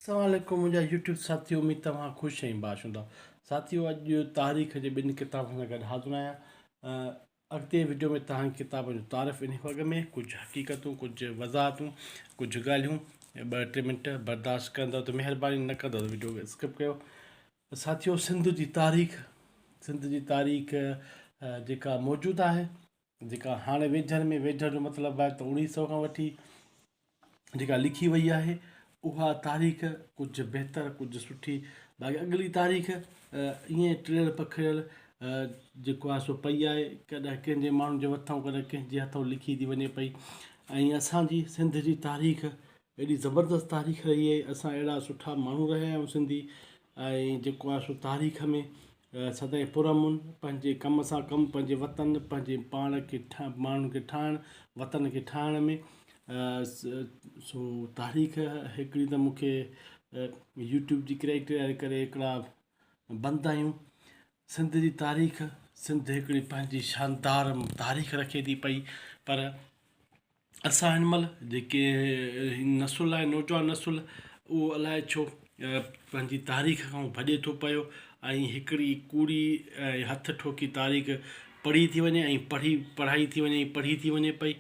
السلام عليڪم منهنجا يوٽيوب ساٿيو اميد توهان خوش ۽ باش هوندا ساٿيو اڄ تاريخ جي ٻن ڪتابن سان گڏ حاضر آهيان اڳتي وڊيو ۾ توهان ڪتابن جو تعارف انهي وڳ ۾ ڪجهه حقيقتون ڪجهه وضاحتون ڪجهه ڳالهيون ٻه ٽي منٽ برداشت ڪندو ته مهرباني نه ڪندو ته وڊيو کي اسڪپ ڪيو ساٿيو سنڌ جي تاريخ سنڌ جي تاريخ جيڪا موجود آهي جيڪا هاڻي ويجهر ۾ ويجهر جو مطلب آهي ته اوڻيهه سئو کان وٺي جيڪا لکي وئي آهي اها تاريخ ڪجهه بهتر ڪجهه سٺي باقي اڳلي تاريخ ائين ٽڙيل پکڙيل جيڪو آهي سو پئي آهي ڪڏهن ڪنهن جي ماڻهن جي مٿان ڪڏهن ڪنهن جي هٿ لکي ٿي وڃي پئي ۽ اسان جي سنڌ جي تاريخ ايڏي زبردست تاريخ رهي آهي اسان اهڙا سٺا ماڻهو رهيا آهيون سنڌي ۽ جيڪو آهي سو تاريخ ۾ سدائين پر امن پنهنجي ڪم سان ڪم پنهنجي وطن پنهنجي پاڻ کي ماڻهن کي ٺاهڻ وطن کي ٺاهڻ ۾ سو تاريخ هڪڙي ته مونکي يوٽيوب جي ڪريڪٽر ڪري هڪڙا بند آهيون سنڌ جي تاريخ سنڌ هڪڙي پنهنجي شاندار تاريخ رکي ٿي پئي پر اسان هن مهل جيڪي نسل آهي نوجوان نسل اهو الاء ڇو پنهنجي تاريخ کان ڀڄي ٿو پيو ۽ هڪڙي ڪوڙي ۽ هٿ ٺوڪي تاريخ پڙهي ٿي وڃي ۽ پڙهي پڙهائي ٿي وڃي ۽ پڙهي ٿي وڃي پئي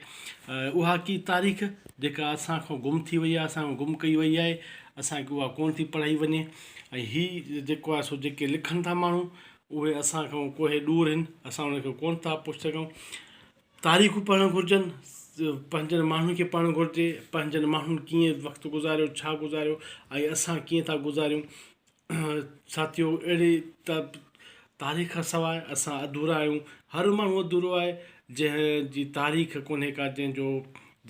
اها ڪي تاريخ جيڪا اسان کان گم ٿي وئي اسان کان گم ڪئي وئي آهي اسانکي اها ڪون ٿي پڙهائي وڃي ۽ هي جيڪو آهي سو جيڪي لکن ٿا ماڻهو اهي اسان کان ڪوهي ڏور هن اسان انهن کي ڪون ٿا پڇي سگهون تاريخون پڙهڻ گهرجن، پنهنجن ماڻهن کي پڙهڻ گهرجي، پنهنجن ماڻهن ڪيئن وقت گذاريو، ڇا گذاريو ۽ اسان ڪيئن ٿا گذاريون. ساٿيو اهڙي ته تاريخ کان سواء اسان اڌورا آهيون، هر ماڻهو اڌورو آهي، جنهن جي تاريخ ڪونهي ڪا، جنهن جو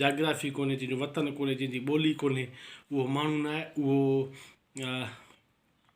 جاگرافي ڪونهي، جنهن جو وطن ڪونهي، جنهن جي ٻولي ڪونهي، اهو ماڻهو ناهي، اهو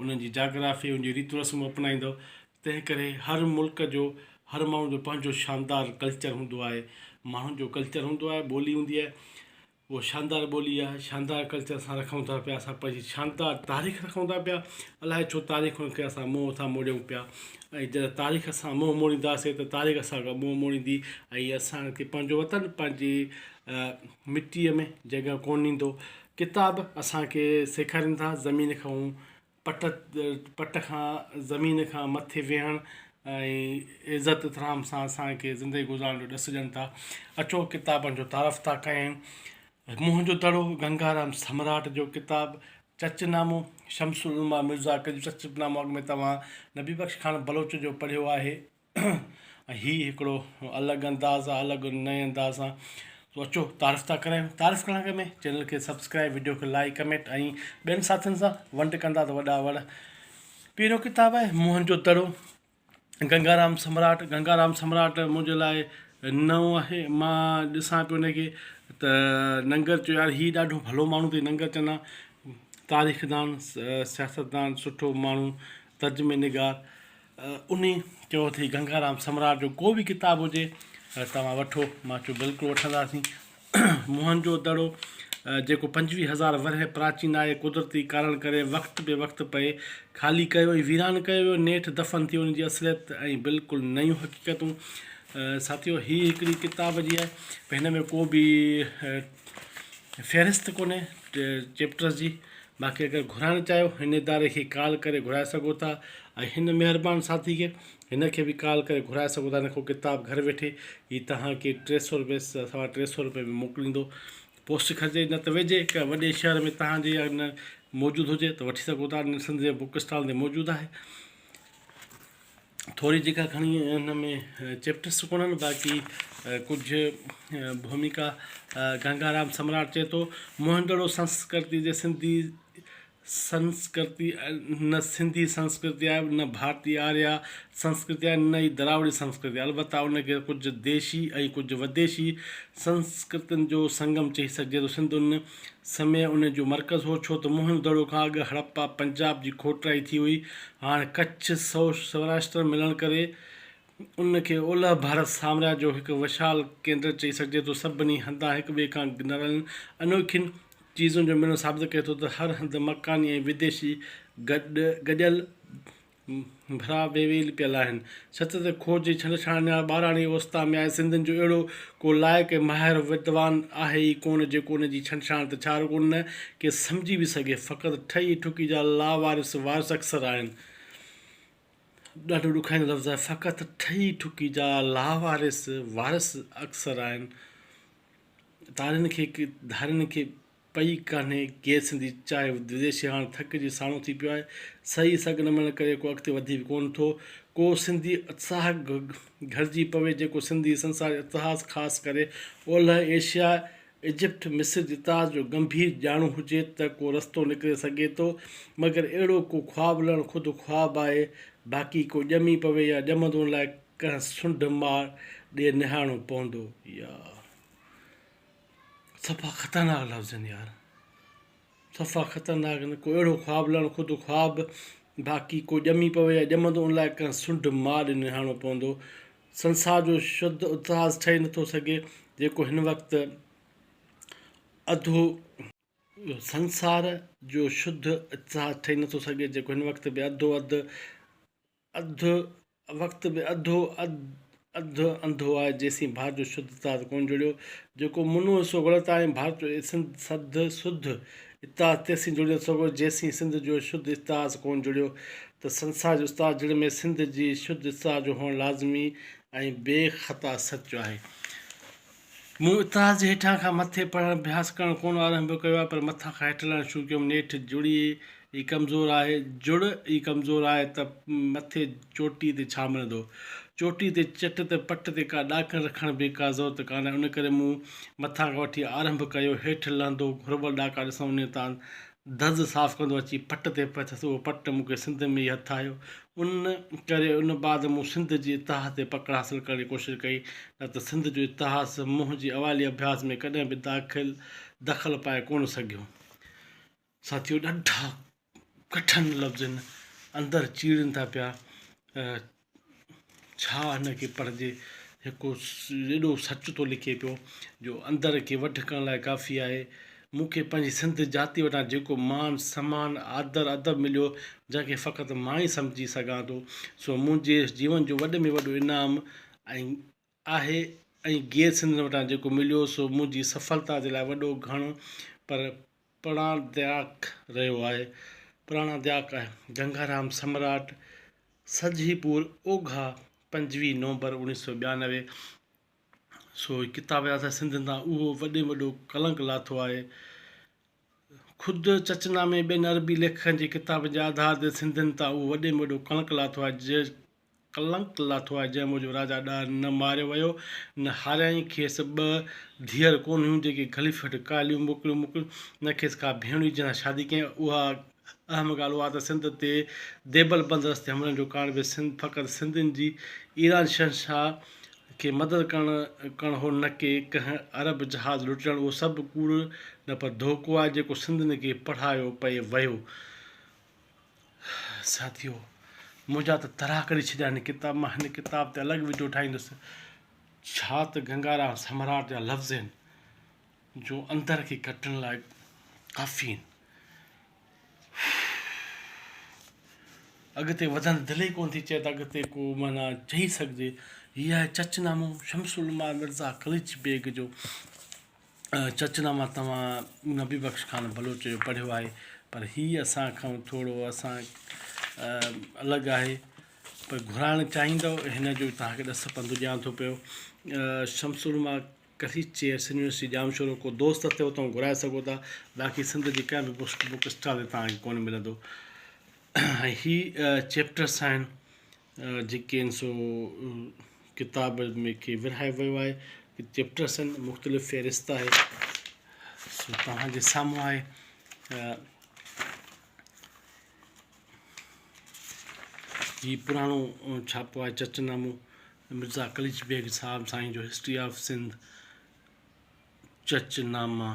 انهن جي جاگرافي، انهن جون ريتون رسمون اپنائيندؤ. تنهن ڪري هر ملڪ جو، هر ماڻهو جو پنهنجو شاندار ڪلچر هوندو آهي. ماڻهن جو ڪلچر هوندو آهي، ٻولي هوندي آهي. اهو شاندار ٻولي آهي، شاندار ڪلچر اسان رکون ٿا پيا، اسان پنهنجي شاندار تاريخ رکون ٿا پيا. الاء ڇو تاريخ کان ڪي اسان منهن ٿا موڙيون پيا ۽ جڏهن تاريخ اسان منهن موڙينداسين ته تاريخ اسان کان منهن موڙيندي ۽ اسان کي پنهنجو وطن پنهنجي مٽيء ۾ جڳهه ڪونه ڏيندو. ڪتاب اسان کي سيکارين ٿا زمين کان پٽ پٽ کان زمين کان مٿي ويهڻ ۽ عزت احترام سان اسان کي زندگي گذارڻ جو ڏس ڏين ٿا اچو ڪتابن جو تعارف ٿا ڪيون منهن جو دڙو گنگارام سمراٽ جو ڪتاب چچ نامو شمس العلماء مرزا ڪجھ چچ نامو اڳ ۾ توهان نبي بخش خان بلوچ جو پڙهيو آهي هي هڪڙو الڳ انداز آ الڳ نئين انداز سان سو اچو تعارف ٿا ڪرايون تعارف ڪرڻ کان اڳ ۾ چينل کي سبسڪرائب وڊيو کي لائڪ ڪمينٽ ۽ ٻين ساٿين سان ونڊ ڪندا ته وڏا وڙ پهريون ڪتاب آهي موهن جو دڙو گنگارام سمراٽ گنگارام سمراٽ منهنجي لاء نئون آهي مان ڏسان پيو انکي ته ننگر چيو يار هي ڏاڍو ڀلو ماڻهو تي ننگر چنا تاريخ دان سياستدان سٺو ماڻهو ترجمي نگار انهي چيو اٿئي گنگارام سمراٽ جو ڪو به ڪتاب هجي توهان وٺو. مان چيو بلڪل وٺنداسين. موهن جو دڙو جيڪو پنجويهه هزار ورهيه پراچين آهي قدرتي ڪارڻ ڪري وقت بي وقت پئي خالي ڪيو ۽ ويران ڪيو ويو نيٺ دفن ٿيو ان جي اصليت ۽ بلڪل نيون حقيقتون ساٿيو هي هڪڙي ڪتاب جي آهي هن ۾ ڪو به فهرست ڪونهي چيپٽرز جي باقي اگر گهرائڻ چاهيو هن اداري کي ڪال ڪري گهرائي سگهو ٿا ۽ هن مهربان ساٿي کي هن کي به ڪال ڪري گهرائي سگهو ٿا هن کان ڪتاب گهر ويٺي ئي توهان کي ٽي سئو روپئي سوا ٽي سئو روپئي ۾ موڪليندو پوسٽ کجي نه ته ويجهي ڪنهن وڏي شهر ۾ توهان جي ان موجود هجي ته وٺي سگهو ٿا سنڌ جي بوڪ اسٽال تي موجود آهي ٿوري جيڪا کڻي ان ۾ چيپٽرس ڪونهن باقي ڪجهه ڀوميڪا گنگارام سمراٽ چئي ٿو موهندڙو سنسڪرتي جي سنڌي سنسڪرتي نه سنڌي سنسڪرتي آهي نه ڀارتي آريا سنسڪرتي آهي نه ئي دراوڙي سنسڪرتي آهي البته ان کي ڪجهه ديشي ۽ ڪجهه وديشي سنسڪرتين جو سنگم چئي سگهجي ٿو سنڌ ان سمي ان جو مرڪز هو، ڇو ته موهن دڙو کان اڳ هڙپا پنجاب جي کوٽرائي ٿي هئي. هاڻ ڪڇ سوراشٽر ملڻ ڪري ان کي اولهه ڀارت سامراج جو هڪ وشال ڪيندر چئي سگهجي ٿو. سڀني هنڌان هڪ ٻئي کان نرالين انوکين چيزن جو ملڻ ثابت ڪري ٿو ته هر هنڌ مڪاني ۽ وديشي گڏيل ڀرا بي ويل پيل آهن. سچ ته کوھ جي ڇنڊڇاڻيار ٻاراڻي اوستا ۾ آهي. سنڌين جو اهڙو ڪو لائق ۽ ماهر ودوان آهي ئي ڪونه جيڪو ان جي ڇنڊڇاڻ ته ڇا رڳو نه ڪي سمجهي به سگهي. فقط ٺهي ٺڪي جا لاوارث وارث اڪثر آهن. ڏاڍو ڏکائيندڙ لفظ آهي فقط ٺهي ٺڪي جا لاوارث وارث اڪثر آهن. تارين کي ڌارين کي پئي ڪانهي ڪير سنڌي چاهي وديشي هاڻ ٿڪ جي ساڻو ٿي پيو آهي سهي سگهه نه ملڻ ڪري ڪو اڳتي وڌي به ڪونه ٿو ڪو سنڌي اتساهه گهرجي پوي جيڪو سنڌي سنساري اتهاس خاص ڪري اولهه ايشيا ايجپٽ مصر جي اتهاس جو گنڀير ڄاڻو هجي ته ڪو رستو نڪري سگهي ٿو مگر اهڙو ڪو خواب لهڻ خود خواب آهي باقي ڪو ڄمي پوي يا ڄمندو ان لاء ڪنهن سنڍ ماڙ ڏي نهاڻو پوندو يا صفا خطرناڪ لفظ آهن يار صفا خطرناڪ آهن ڪو اهڙو خواب لهڻ خود خواب باقي ڪو ڄمي پوي يا ڄمندو ان لاء ڪنهن سنڊ مار ڏي نهاڻو پوندو سنسار جو شد اتهاس ٺهي نٿو سگهي جيڪو هن وقت اڌو سنسار جو شد اتهاس ٺهي نٿو سگهي جيڪو هن وقت به اڌو اڌ اڌ وقت به اڌو اڌ انڌو آهي جيسين ڀار جو شڌ اتحاد ڪون جڙيو جيڪو منو حصو غلط آهي ۽ ڀارت جو سنڌ سڌ سڌ اتحاد تيسين جڙي نٿو سگهو جيسين سنڌ جو شڌ اتحاز ڪون جڙيو ته سنسار جو اتحاد جڙي ۾ سنڌ جي شڌ اتحاد جو هئڻ لازمي ۽ بي خطا سچ آهي. مون اتحاد جي هيٺان کان مٿي پڙهڻ اڀياس ڪرڻ ڪونه آرنڀ ڪيو آهي، پر مٿان کان هيٺ لهڻ شروع ڪيم. نيٺ جڙي ئي ڪمزور آهي، جڙ ئي ڪمزور آهي ته مٿي چوٽي تي ڇا ملندو؟ چوٽي تي چٽ ته پٽ تي ڪا ڏاڪڻ رکڻ به ڪا ضرورت ڪانهي، ان ڪري مون مٿان کان وٺي آرنڀ ڪيو، هيٺ لهندو گهربل ڏاڪا ڏسڻ انهيء تان دز صاف ڪندو اچي پٽ تي پيس اهو پٽ مون کي سنڌ ۾ ئي هٿ آيو ان ڪري ان بعد مون سنڌ جي اتهاس تي پڪڙ حاصل ڪرڻ جي ڪوشش ڪئي نه ته سنڌ جو اتهاس منهنجي اوائلي اڀياس ۾ ڪڏهن به داخل دخل پائي ڪونه سگهيو ساٿيو ڏاڍا ڪٺن لفظن اندر چيڙين ٿا پيا ڇا هن کي پڙهجي؟ هڪ ايڏو سچ ٿو لکي پيو جو اندر کي وڍ ڪرڻ لاء ڪافي آهي. مون کي پنهنجي سنڌ جاتي وٽان جيڪو مان سمان، آدر ادب مليو، جنهن کي فقط مان ئي سمجهي سگهان ٿو، سو منهنجي جيون جو وڏ ۾ وڏو انعام ۽ آهي ۽ گيئر سنڌين وٽان جيڪو مليو سو منهنجي سڦلتا جي لاء وڏو گهڻ پر پراڻادياڪ رهيو آهي. پراڻادياڪ آهي. گنگارام سمراٽ، سجهي پور، اوگها، پنجويهه نومبر اوڻيهه سؤ ٻيانوي، سو هي ڪتاب يا اسان سنڌين تان اهو وڏي ۾ وڏو ڪلنڪ لاٿو آهي. خود چچ نامي ٻين عربي ليکڪن جي ڪتابن جي آڌار تي سنڌين تان اهو وڏي ۾ وڏو ڪلنڪ لاٿو آهي. ڪلنڪ لاٿو آهي، جنهن موجب راجا ڏاهر نه ماريو ويو، نه هاريائين، کيس ٻه ڌيئر ڪونه هيون، جيڪي گهلي ڦٽ ڪاليون موڪليون موڪليون، نه کيس ڪا ڀيڻ هئي جنهن سان شادي ڪيائين، اها اهم ڳالهه اها ته سنڌ تي ديبل بند رستي حملن جو ڪارڻ به سنڌ فقط سنڌين جي ايران شهنشاهه کي مدد ڪرڻ ڪرڻ هو نه ڪي ڪنهن عرب جهاز لٽجڻ اهو سڀ ڪوڙ نه پر ڌوڪو آهي جيڪو سنڌين کي پڙهايو پئي ويو. ساٿيو! منهنجا ته ترا ڪڍي ڇڏيا هن ڪتاب مان، هن ڪتاب تي الڳ وڊيو ٺاهيندس. ڇا ته گنگارام سمراٽ جا لفظ آهن، جو اندر کي ڪٽڻ لاء ڪافي آهن. اڳتي وڌڻ دل ئي ڪونه ٿي چئي ته اڳتي ڪو معنيٰ چئي سگهجي. هي آهي چچ نامو شمس العلماء مرزا قليچ بيگ جو. چچ نامه توهان نبي بخش خان بلوچ جو پڙهيو آهي پر هي اسان کان ٿورو اسان الڳ آهي پر گهرائڻ چاهيندو هن جو توهان کي ڏس پنڌ ڏيان ٿو پيو شمس العلماء ڪري چيئرس يونيورسٽي ڄام شورو ڪو دوست اٿي اتو گهرائي سگهو ٿا باقي سنڌ جي ڪنهن به بوسٽ بوڪ اسٽال تي توهان کي ڪونه ملندو هي چيپٽرس آهن جيڪي آهن سو ڪتاب ۾ کي ورهايو ويو آهي چيپٽرس آهن مختلف فهرست آهي سو توهان جي سامهون آهي هي پراڻو ڇاپو آهي چرچ نامو مرزا قليچ بيگ صاحب سائين جو هسٽري آف سنڌ چرچ ناما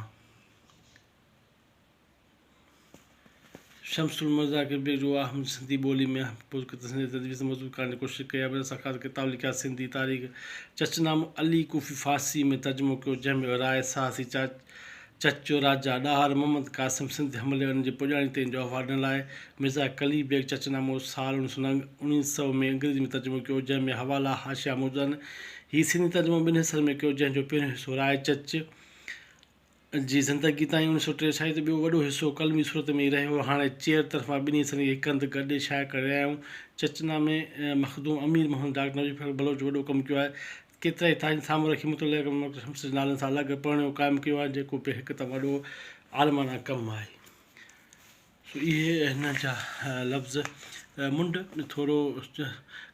شمس المرضيٰ ڪربيڪ جو اهم سنڌي ٻوليء ۾ اهم پرڪتب سنڌي جي تدوين سان مضبوط ڪرڻ جي ڪوشش ڪئي آهي پر ان سان خاص ڪتاب لکيا سنڌي تاريخ چچ نامو علي ڪوفي فارسيء ۾ ترجمو ڪيو جنهن ۾ راء سهاسي چچ جو راجا ڏاهر محمد قاسم سنڌ حملي ۽ ان جي پڄاڻي تي ان جو احوال ڏنل آهي مرزا قلي بيگ چچ نامو سال اڻ سؤ اڻيهه سؤ ۾ انگريزيء ۾ ترجمو ڪيو جنهن ۾ حوالا حاشيا موجود آهن هي سنڌي ترجمو ٻن حصن ۾ ڪيو جنهن جو پهريون حصو راء چچ جي زندگي تائين اوڻيھ سؤ ٽيھه سائين جو ٻيو وڏو حصو قلمي صورت ۾ ئي رهيو. هاڻي چيئر طرفان ٻنهي حصن کي هڪ هنڌ گڏي شايع ڪري رهيا آهيون. چچنا ۾ مخدوم امير محمد ڊاڪٽر نوشير فخر بلوچ وڏو ڪم ڪيو آهي. ڪيترائي تاريخ سامهون رکي مطلع ڪرڻ ڊاڪٽر شمس جي نالن سان الڳ پرڻيو قائم ڪيو آهي جيڪو پڻ هڪ تمام وڏو عالمانه ڪم آهي. اهي هن جا لفظ منڍ ٿورو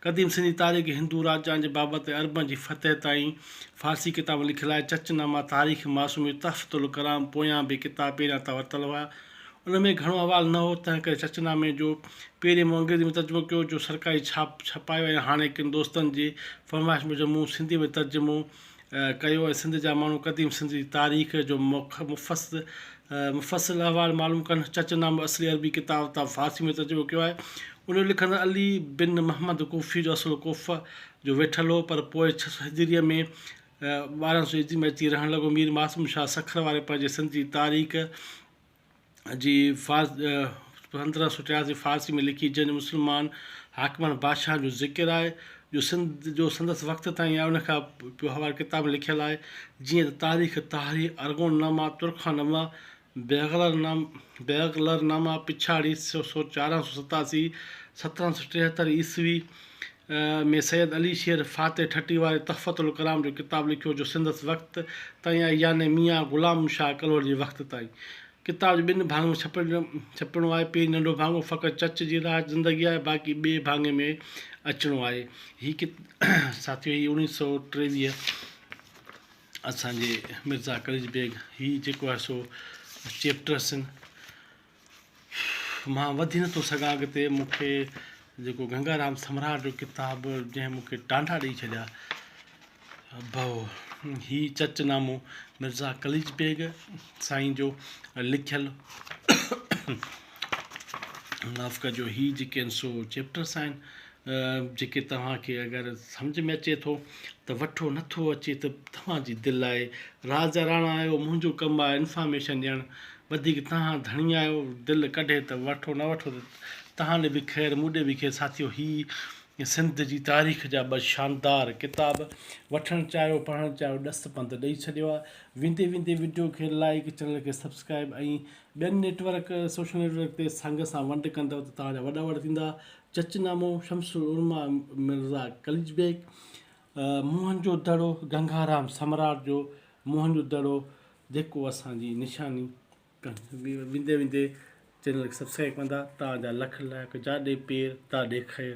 قديم سنڌي تاريخ، هندو راجائن جي بابت ۽ عربن جي فتح تائين فارسي ڪتابن لکيل آهي. چچ نامه، تاريخ معصومي، تحفته الڪرام پويان به ڪتاب پهريان تان ورتل هئا. ان ۾ گهڻو احوال نه هو، تنهن ڪري چچ نامي جو پهرين مون انگريزي ۾ ترجمو ڪيو، جو سرڪاري ڇاپ ڇپايو ۽ هاڻي ڪن دوستن جي فرمائش موجب مون سنڌي ۾ ترجمو ڪيو ۽ سنڌ جا ماڻهو قديم سنڌ جي تاريخ جو مفصل احوال معلوم ڪن. چچ نامو اصلي عربي ڪتاب تان فارسي ۾ ترجمو ڪيو آهي. ان جو لکندڙ علي بن محمد ڪوفي جو اصل ڪوفه جو ويٺل هو پر پوء ڇهه سؤ هجريء ۾ ٻارهن سؤ عيسوي ۾ اچي رهڻ لڳو. مير معصوم شاهه سکر واري پنهنجي سنڌ جي تاريخ، جي پندرهن سؤ ٽياسي فارسي ۾ لکي جنهن جو مسلمان حاڪمن بادشاهن جو ذڪر آهي جو سنڌ جو سندس وقت تائين آهي ان کان پوء هر ڪتاب ۾ لکيل آهي جيئن ته تاريخ طاهري ارغون نامه ترخان نامه بيغلر نام بيغلر نامه پڇاڙي سو چارهن سو ستاسي سترهن سو ٽيهتر عيسوي ۾ سيد علي شير فاتح ٺٽي واري تحفة الڪرام جو ڪتاب لکيو جو سندس وقت تائين آهي يعني ميان غلام شاهه ڪلهوڙي جي وقت تائين. ڪتاب جي ٻن ڀاڱن ۾ ڇپڻو آهي. پهرين ننڍو ڀاڱو فقط چچ جي راهه زندگي آهي باقي ٻئي ڀاڱي ۾ اچڻو آهي. هي ساٿيو هي اوڻيهه سئو ٽيويهه اسان جي مرزا قليچ بيگ هي جيڪو آهي سو چيپٽرس مان وڌي نٿو سگهان اڳتي مون کي جيڪو گنگارام سمراٽ جو ڪتاب جنهن مون کي ٽانڊا ڏئي ڇڏيا بهو هي چچ نامو مرزا قليچ بيگ سائين جو لکيل معاف ڪجو هي جيڪي آهن سو چيپٽرس آهن جيڪي توهان کي اگر سمجهه ۾ اچي ٿو ته وٺو نه ٿو اچي ته توهان جي دل آهي راز جا راڻا آهيو منهنجو ڪم آهي انفارميشن ڏيڻ وڌيڪ توهان ڌڻي آهيو دل ڪڍي ته وٺو نه وٺو ته توهان ڏي به خير مون ڏي به خير ساٿيو هي سنڌ جي تاريخ جا ٻه شاندار ڪتاب وٺڻ چاهيو پڙهڻ چاهيو ڏس پنڌ ڏئي ڇڏيو آهي ويندي ويندي وڊيو کي لائيڪ چينل کي سبسڪرائب ۽ ٻين نيٽورڪ سوشل نيٽورڪ تي سنگ سان ونڊ ڪندو ته توهان جا وڏا وڏا ٿيندا چچ نامو، شمس العلماء مرزا قليچ بيگ، موهن جو دڙو، گنگارام سمراٽ جو موهن جو دڙو جيڪو اسان جي نشاني ويندي ويندي چينل کي سبسڪرائب ڪندا تان جا لک لائق جاڏي پير تاڏي خير.